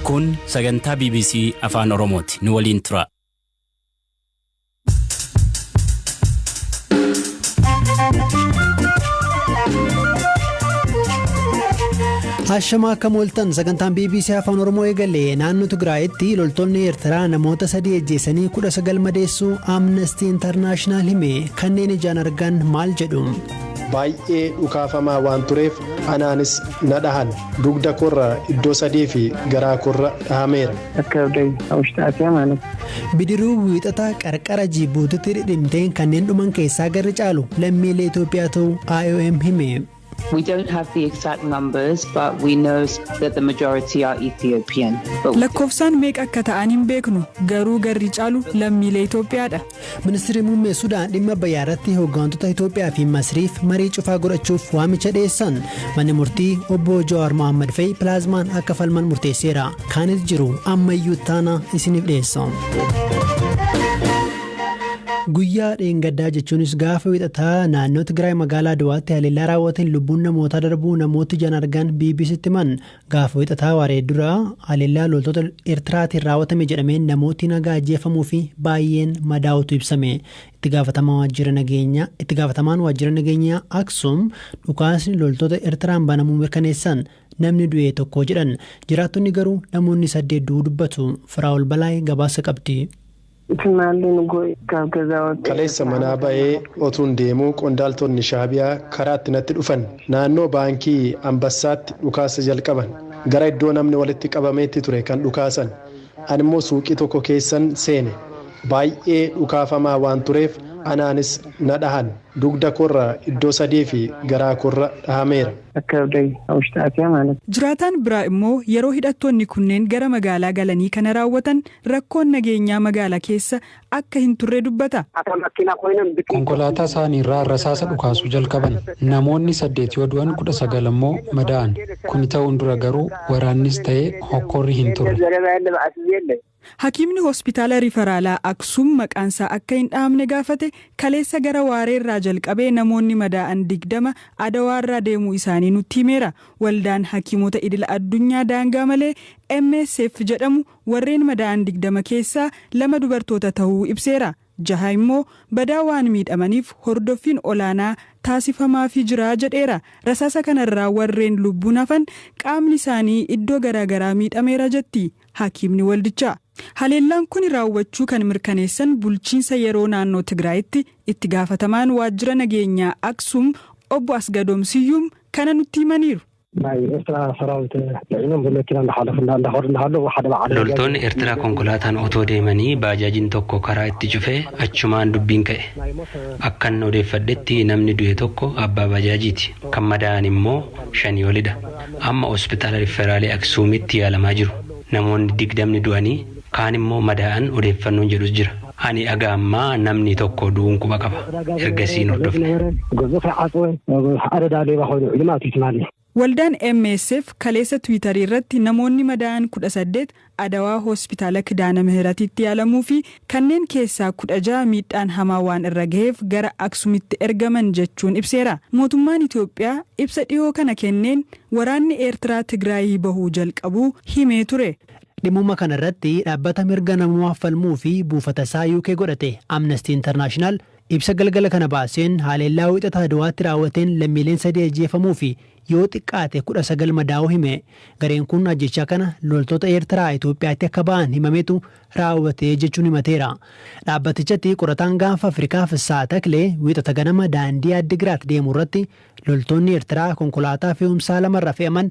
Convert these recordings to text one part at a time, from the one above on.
Kun sagantaa BBC Afaan Oromooti. Nu waliin tura. Hashama akka mooltan sagantaan BBC Afaan Oromoo eegale naannoo Tigraayitti loltoonni Eertiraa namoota sadii ajjeesanii kudha sagal madeessuu Amnesty International hime kanneen ijaan argan maal jedhu. Baay'ee dhukaafamaa waan tureef anaanis na dhahan. Dugda koorra iddoo sadii fi garaa koorra dhahameera. Akka abdai hawushxaatee amaanas. Bidiruu Wiixataa qarqara Jiibuutiitti dhidhimteen kanneen dhuman keessaa garri caalu lammiilee Itoophiyaa ta'uu IOM hime. We don't have the exact numbers but we know that the majority are Ethiopian. Lakkoofsaan meeqa akka ta'an hin beeknu, garuu garri caalu lammiilee Itoophiyaadha. Ministirri Muummee Sudaan dhimma Abbayyaa irratti hooggantoota Itoophiyaa fi Masriif marii cufaa godhachuuf waamicha dhiyeessan. Manni murtii obbo Jawaar Mohaammed fa'i pilaazmaan akka falman murteesseera. Kaanis jiru ammayyuu taana isiniif dhiyeessa. Guyyaa dheengaddaa jechuunis gaafa wixataa naannoo Tigraay magaalaa Adwaatti haleellaa raawwateen lubbuun namootaa darbuu namooti ijaan argan BBCtti himan Gaafa Wixataa waaree dura haleellaa loltoota Ertiraatiin raawwatame jedhameen namootni nagaa ajjeefamuu fi baayyeen madaa'uutu ibsame. Itti gaafatamaa waajjira nageenyaa Itti gaafatamaan waajjira nageenyaa Aksum dhukaasni loltoota Ertiraan banamuu mirkaneessan. Namni du'e tokko jedhan. Jiraattonni garuu namoonni saddeet du'uu dubbatu. Firaa'ol Balaay gabaasa qabdi. Isin maallee nu gooyitaaf gazaa waqee. Kaleessa manaa ba'ee otuun deemuu qondaaltonni Shaabiyaa karaatti natti dhufan. Naannoo baankii Anbassaatti dhukaasa jalqaban. Gara iddoo namni walitti qabameetti ture kan dhukaasan. Animmoo suuqii tokko keessan seene. Baay'ee dhukaafamaa waan tureef anaanis na dhahan. Dugda koorra iddoo sadiifi garaa koorra dhahameera. Akka abdai hawushxaatiyaa maalati. Jiraataan biraa immoo yeroo hidhattoonni kunneen gara magaalaa galanii kana raawwatan rakkoon nageenyaa magaala keessa akka hin turre dubbata. Konkolaataa isaanii irraa rasaasa dhukaasuu jalqaban. Namoonni saddeet yoo du'an kudha sagal ammoo madaa'an. Kuni ta'uun dura garuu waraannis ta'e hokkorri hin turre. Hakiimni hospitaala rifaraalaa Aksum maqaan isaa akka hin dhahamne gaafate kaleessa gara waaree irraa jalqabee namoonni madaa'an digdama Adawaa irraa deemuu isaanii nutti himeera. Waldaan Hakiimota Idila Addunyaa daangaa malee MSF jedhamu Warreen madaa'an 20 keessaa lama dubartoota tahuu ibseera. Jaha immoo badaa waan miidhamaniif hordoffiin olaanaa taasifamaafii jira jedheera. Rasaasa kanarraa warreen lubbuun hafan qaamni isaanii iddoo garaa garaa miidhameera jetti hakiimni waldichaa. Haleellaan kuni raawwachuu kan mirkaneessan bulchiinsa yeroo naannoo Tigraayitti itti gaafatamaan waajjira nageenyaa Aksum obbo Asgadoom Siyyuum kana nutti himaniiru. Loltoonni Ertiraa konkolaataan otoo deemanii baajaajiin tokko karaa itti cufe achumaan dubbiin ka'e. Akkan odeeffadhetti namni du'e tokko abbaa baajaajiiti. Kan madaa'an immoo shanii olidha. Amma hospitaala Rifferaalii Aksuumitti yaalamaa jiru. Namoonni digdamni du'anii Kaan immoo madaa'an odeeffannoon jedhus jira. Ani haga ammaa namni tokko du'uun quba qaba. Ergasii hin hordofne. Waldaan MSF kaleessa Twiitarii irratti namoonni madaa'an 18 Adawaa Hospitaala Kidaana Mihiratiitti yaalamuu fi kanneen keessaa 16 miidhaan hamaa waan irra gaheef gara Aksumitti ergaman jechuun ibseera. Mootummaan Itoophiyaa ibsa dhihoo kana kenneen waraanni Eertiraa Tigraayii bahuu jalqabuu himee ture. Dhimmuma kana irratti dhaabbata mirga namoomaaf falmuu fi buufata isaa UK godhate Amnesty International ibsa galgala kana baaseen haleellaa Wiixata Adwaatti raawwateen lammiileen sadii ajjeefamuu fi yoo xiqqaate 19 madaa'uu hime. Gareen kun ajjeechaa kana loltoota Eertiraa Itoophiyaatti akka ba'an himametu raawwate jechuun himateera. Dhaabbatichatti qorataan Gaanfa Afrikaa Fissahaa Taklee Wiixata ganama daandii Addigiraat deemu irratti loltoonni Eertiraa konkolaataa fe'umsaa lama irra fe'aman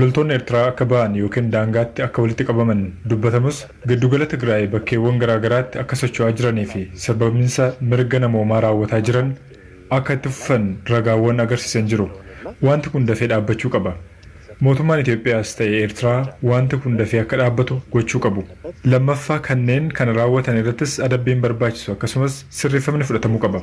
Loltoonni Ertiraa akka ba'an ykn daangaatti akka walitti qabaman dubbatamus giddugala Tigraay bakkeewwan garaa garaatti akka socho'aa jiranii fi sarbamiinsa mirga namoomaa raawwataa jiran akka itti fufan ragaawwan agarsiisan jiru. Waanti kun dafee dhaabbachuu qaba. Mootummaan Itoophiyaas ta'e Ertiraa waanti kun dafee akka dhaabbatu gochuu qabu. Lammaffaa kanneen kana raawwatan irrattis adabbiin barbaachisu akkasumas sirreeffamni fudhatamuu qaba.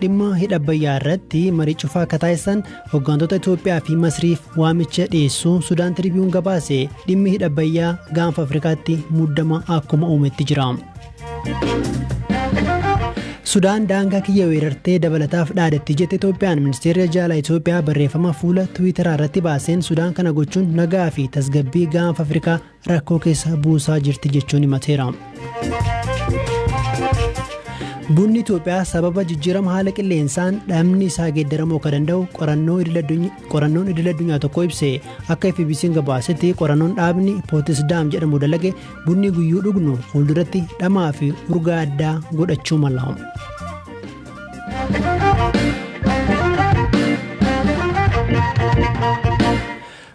Dhimma hidha Abbayyaa irratti marii cufaa akka taasisan hoggantoota Itoophiyaa fi Masriif waamicha dhiyeessuu Sudaan Tiriibiyuun gabaase dhimmi hidha Abbayyaa gaanfa Afrikaatti muddama akkuma uumetti jira. Sudaan daangaa kiyya weerartee dabalataaf dhaadatti jette Itoophiyaan ministeerri jaalaa Itoophiyaa barreeffama fuula Tiwiitaraa irratti baaseen Sudaan kana gochuun nagaa fi tasgabbii gaanfa Afrikaa rakkoo keessa buusaa jirti jechuun himateera. Bunni Itoophiyaa sababa jijjiirama haala qilleensaan dhamni isaa geeddaramuu akka danda'u qorannoon idil addunyaa tokko ibse akka FBC'n gabaasetti qorannoon dhaabni Pootisdaam jedhamu dalage bunni guyyuu dhugnu fuulduratti dhamaa fi urgaa addaa godhachuu mala.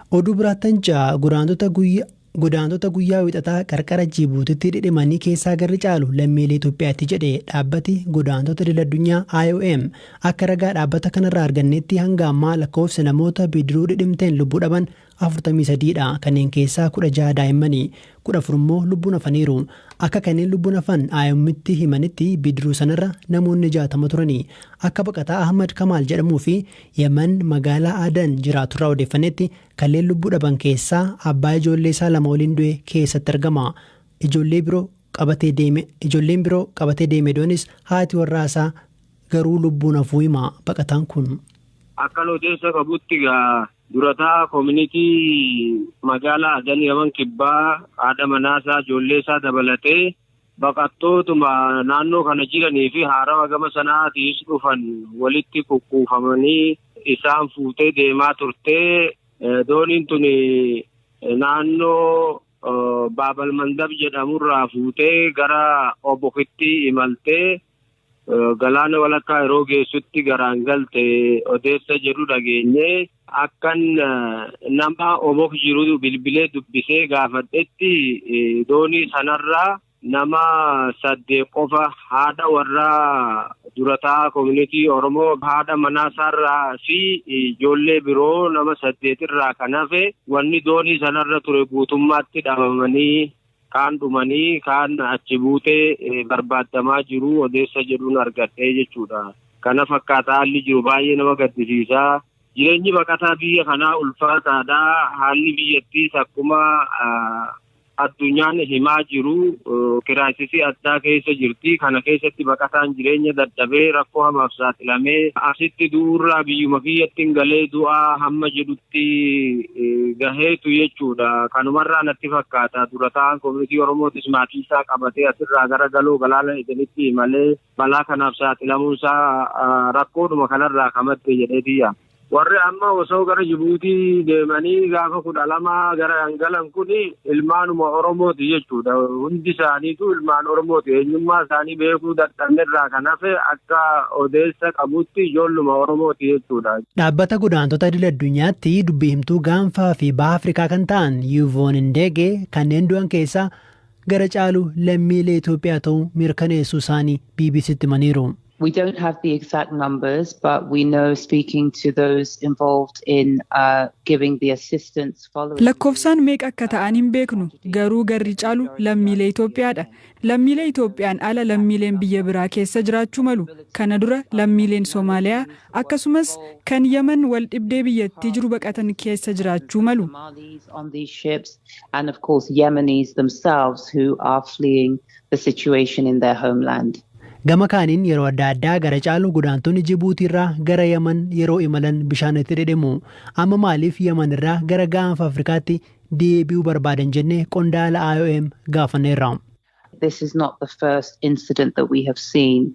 Oduu biraatn ca godaantota guyya Godaantota guyyaa Wixataa qarqara Jiibuutitti dhidhimanii keessaa garri caalu lammiilee Itoophiyaati jedhe dhaabbati godaantota idil addunyaa IOM. Akka ragaa dhaabbata kanarraa arganneetti hanga ammaa lakkoofsi namoota bidiruu dhidhimteen lubbuu dhaban 43 dha. Kanneen keessaa 16 daa'immani. 14 immoo lubbuun hafaniiru. Akka kanneen lubbuun hafan IOMtti himanitti bidiruu sanarra namoonni 60 turani. Akka baqataa Ahmad Kamaal jedhamuu fi Yemen magaalaa Adan jiraaturraa odeeffannetti kanneen lubbuu dhaban keessaa abbaa ijoollee isaa lama waliin du'e keessatti argama. Ijoollee biroo qabatee deeme ijoolleen biroo qabatee deeme du'anis haati warraa isaa garuu lubbuun hafuu hima baqataan kun. Akkan odeessa qabutti egaa Dura taa'aa Koominitii Magaalaa Adan Yaman Kibbaa haadha manaasaa, ijoolleesaa dabalatee baqattootuma naannoo kana jiraniifi haarawa gama Sana'aatiis dhufan walitti kukuufamanii isaan fuutee deemaa turte. Dooniin tuni naannoo Baabal Mandab jedhamurraa fuutee gara Obokitti imalte. Galaana walakkaa yeroo geessutti garaan galte odeessa jedhu dhageenye akkan nama obok jiru bilbilee dubbisee gaafadhetti doonii sanarraa nama saddeet qofa haadha warraa durataa koominitii Oromoo haadha manaasaarraa fi ijoollee biroo nama saddeetirraa kan hafe wanni doonii sanarra ture guutummaatti dhabamanii Kaan dhumanii kaan achi buutee barbaaddamaa jiru odeessa jedhun argadhe jechuudha. Kana fakkaata haalli jiru baay'ee nama gaddisiisa. Jireenyi baqataa biyya kanaa ulfaataadha. Haalli biyyattiis akkuma addunyaan himaa jiru kiraayisisii addaa keessa jirti. Kana keessatti baqataan jireenya dadhabee rakkoo hamaaf saaxilamee asitti du'uurraa biyyuma kiyyattin galee du'aa hamma jedhutti. itti gaheetu jechuudha. Kanumarraa natti fakkaata dura taa'aan komunitii Oromootis maatii isaa qabatee asirraa gara galoo galaana Edenitti imalee balaa kanaaf saaxilamuun isaa rakkoodhuma kanarraa ka madde jedheetii yaada. Warri amma osoo gara Jibuutii deemanii gaafa kudha lama gara kan galan kuni Ilmaanuma Oromooti jechuudha. Hundi isaaniitu ilmaan Oromooti. Eenyummaa isaanii beekuu dadhabne irraa kan hafe akka odeessa qabutti ijoolluma Oromooti jechuudha. Dhaabbata godaantota idil addunyaatti dubbii himtuu gaanfaa fi baha Afrikaa kan ta'an Yuvoon Ndeege kanneen du'an keessaa gara caalu lammiilee Itoophiyaa ta'uu mirkaneessuu isaanii BBC'tti himaniiru. We don't have the exact numbers, but we know speaking to those involved in uh, giving the assistance following. Lakkoofsaan meeqa akka ta'an hin beeknu garuu garri caalu lammiilee Itoophiyaadha. Lammiilee Itoophiyaan ala lammiileen biyya biraa keessa jiraachuu malu. Kana dura lammiileen Somaaliyaa akkasumas kan Yaman wal dhibdee biyyattii jiru baqatan keessa jiraachuu malu. Somalis on these ships and of course Yemenis themselves who are fleeing the situation in their homeland. Gama kaaniin yeroo adda addaa gara caalu godaantonni Jibuutiirraa gara Yaman yeroo imalan bishaan itti dhidhimu. Amma maaliif Yamanirraa gara gaanfa Afrikaatti deebi'uu barbaadan jennee qondaala IOM gaafanneerra. This is not the first incident that we have seen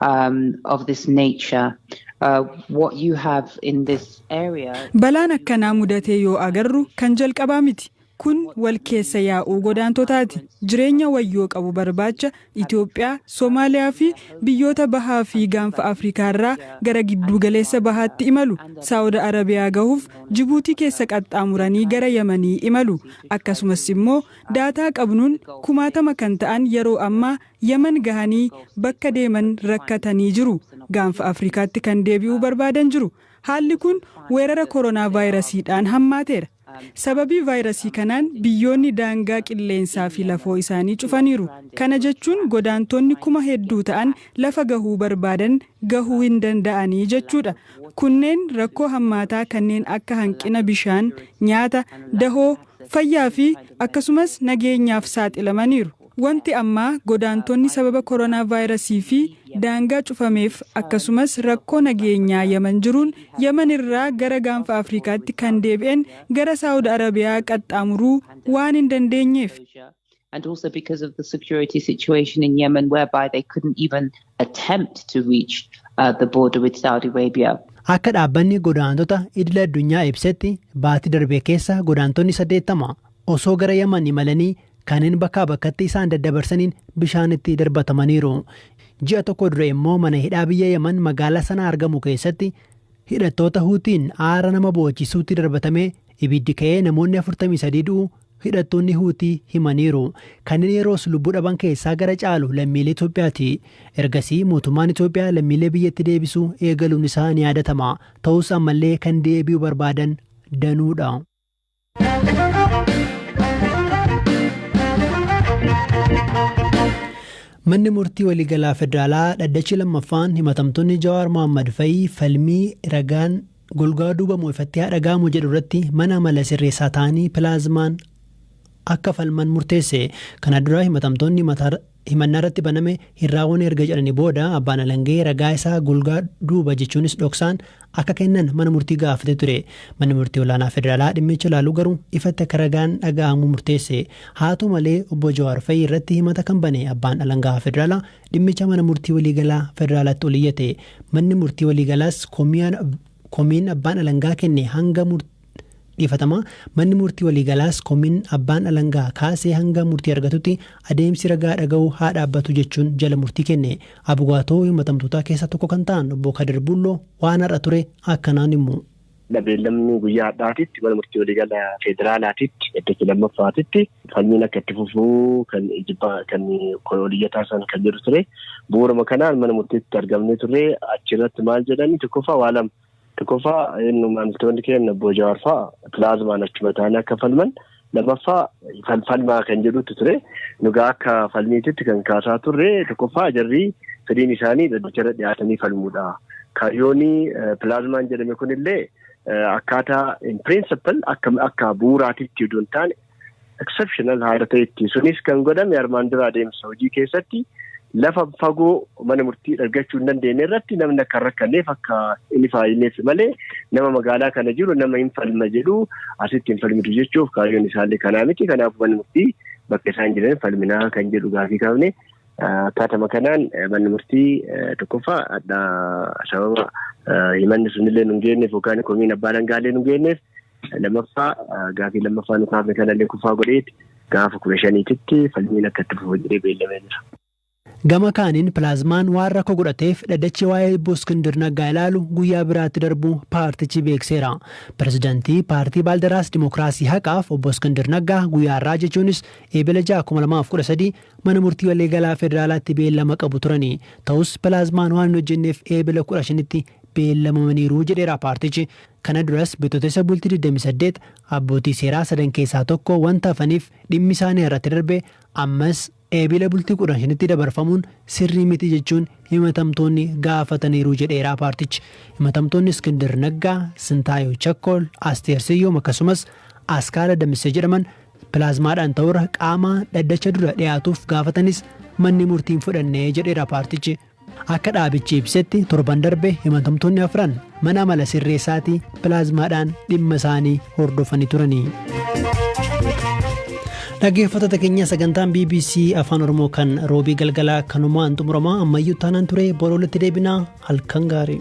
um, of this nature. Uh, what you have in this area Balaan akkanaa mudatee yoo agarru kan jalqabaa miti. Kun wal keessa yaa'uu godaantotaati. Jireenya wayyoo qabu barbaacha Itoophiyaa, Somaaliyaa fi biyyoota Bahaa fi Gaanfa Afrikaa irraa gara Gidduu Galeessa Bahaatti imalu. Saawud Arabiyaa gahuuf Jibuutii keessa qaxxaamuranii gara Yamanii imalu. Akkasumas immoo daataa qabnuun kumaatama kan ta'an yeroo ammaa Yaman gahanii bakka deeman rakkatanii jiru. Gaanfa Afrikaatti kan deebi'uu barbaadan jiru. Haalli kun weerara koronaavaayirasiidhaan hammaateera. Sababii vaayrasii kanaan biyyoonni daangaa qilleensaa fi lafoo isaanii cufaniiru. Kana jechuun godaantoonni kuma hedduu ta'an lafa gahuu barbaadan gahuu hin danda'anii jechuudha. Kunneen rakkoo hammaataa kanneen akka hanqina bishaan, nyaata, dahoo, fayyaa fi akkasumas nageenyaaf saaxilamaniiru. Wanti ammaa godaantonni sababa koronaavaayirasii fi daangaa cufameef akkasumas rakkoo nageenyaa Yaman jiruun Yaman irraa gara Gaanfa Afrikaatti kan deebi'en gara Saawud Arabiyaa qaxxaamuruu waan hin dandeenyeefi. attempt to reach uh, the border with Saudi Arabia. Akka dhaabbanni godaantota idila addunyaa ibsetti baatii darbee keessa godaantonni 80 osoo gara Yaman imalanii kanneen bakkaa bakkatti isaan daddabarsaniin bishaanitti darbatamaniiru. Ji'a tokko dura immoo mana hidhaa biyya Yaman magaalaa sana argamu keessatti hidhattoota Huutiin aara nama boochisuutti darbatamee Ibiddi ka'ee namoonni 43 du'u hidhattoonni Huutii himaniiru. Kanneen yeroos lubbuu dhaban keessaa gara caalu lammiilee Itoophiyaati. Ergasii mootummaan Itoophiyaa lammiilee biyyatti deebisuu eegaluun isaa ni yaadatama. Ta'us ammallee kan deebi'uu barbaadan danuudha. Manni murtii waliigalaa federaalaa dhaddachi lammaffaan himatamtoonni Jawaar Mohaammed fa'i falmii ragaan Golgaa duuba moo ifatti haa dhaga'amu jedhu irratti mana mala sirreessaa ta'anii pilaazmaan akka falman murteesse. Kana dura himatamtoonni himata himannaa irratti baname hin raawwane erga jedhanii booda abbaan alangee ragaa isaa golgaa duuba jechuunis dhoksaan akka kennan mana murtii gaafate ture. Manni murtii olaanaa federaalaa dhimmicha ilaalu garuu ifatti akka ragaan dhaga'amu murteesse. Haata'u malee obbo Jawaar Fayii irratti himata kan bane abbaan alangaa federaalaa Dhimmicha Mana Murtii Waliigalaa Federaalaatti ol iyyate. Manni Murtii Waliigalaas komiin abbaan alangaa kenne hanga Dhiifatamaa, Manni Murtii Waliigalaas komiin abbaan alangaa kaase hanga murtii argatutti adeemsi ragaa dhaga'uu haa dhaabbatu jechuun jala murtii kenne. Abugaatoo himatamtootaa keessaa tokko kan ta'an Obbo Kadir Bulloo waan har'a ture akkanaan himu. Beellamni guyyaa har'aatitti mana murtii waliigala federaalaatitti dhaddacha lammaffaatitti falmiin akka itti fufuu kan ijibbaa kan oliyyataa san kan jedhu ture. Bu'uuruma kanaan mana murtiitti argamnee turre achirratti maal jedhani tokkoffaa waa lama tokkoffaa inni maamiltoonni keenya obbo Jawaar fa'a pilaazmaan achuma taa'anii akka falman Lammaffaa kan falmaa kan jedhutu ture. Nugaa akka falmiititti kan kaasaa turre tokkoffaa jarri fedhiin isaanii dhaddacha irra dhiyaatanii falmuudha. Kaayyoon pilaazmaan jedhame kunillee akkaataa in principle akka akka bu'uuraatitti utuu hin taane exceptional haala ta'etti sunis kan godhame armaan dura adeemsa hojii keessatti Lafa fagoo mana murtii argachuu hin dandeenye irratti namni akka hin rakkanneef akka inni faayyineef malee nama magaalaa kana jiru nama hin falma jedhu asitti hin falmitu jechuuf kaayyoon isaallee kanaa miti. Kanaaf manni murtii bakka isaan jiran falminaa kan jedhu gaafii kaafne akkaatama kanaan manni murtii tokkoffaa hadhaa sababa himanni sunillee nu hin geenyeef yookaan komiin abbaa dhangaallee nu hin geenyeef Lammaffaa gaafii lammaffaa nu kaafne kanallee kufaa godheeti gaafa kudha shaniititti falmiin akka itti fufu jedhee beellamee jira. Gama kaaniin Pilaazmaan waan rakkoo godhateef dhaddachi waa'ee Obbo Iskindir Naggaa ilaalu guyyaa biraatti darbuu paartichi beekseera. Pirezidantii paartii Baaldaraas Dimokiraasii Haqaaf Obbo Iskindir Naggaa guyyaa har'aa jechuunis Eebila ja'a, kuma lamaa fi kudha sadii Mana Murtii Waliigalaa Federaalaatti beellama qabu turani. Ta'us Pilaazmaan waan hin hojjenneef Eebila kudha shanitti beellamamaniiru jedheera paartichi. Kana duras Bitootessa bultii 28 abbootii seeraa sadan keessaa tokko wanta hafaniif dhimmi isaanii har'atti darbe ammas Eebila bultii 15tti dabarfamuun sirrii miti jechuun himatamtoonni gaafataniiru jedheera paartichi. Himatamtoonni Iskindir Naggaa, Sintaayew Chakkol, Asteer Siyyum akkasumas Askaala Damissee jedhaman pilaazmaadhaan ta'urra qaama dhaddacha dura dhiyaatuuf gaafatanis manni murtii hin fudhanne jedheera paartichi. Akka dhaabichi ibsetti torban darbe himatamtoonni afran mana amala sirreessaatii pilaazmaadhaan dhimma isaanii hordofanii turani. Dhaggeeffattoota keenya sagantaan BBC Afaan Oromoo kan roobii galgalaa kanumaan xumurama ammayyuu taanaan ture bor walitti deebinaa halkan gaarii.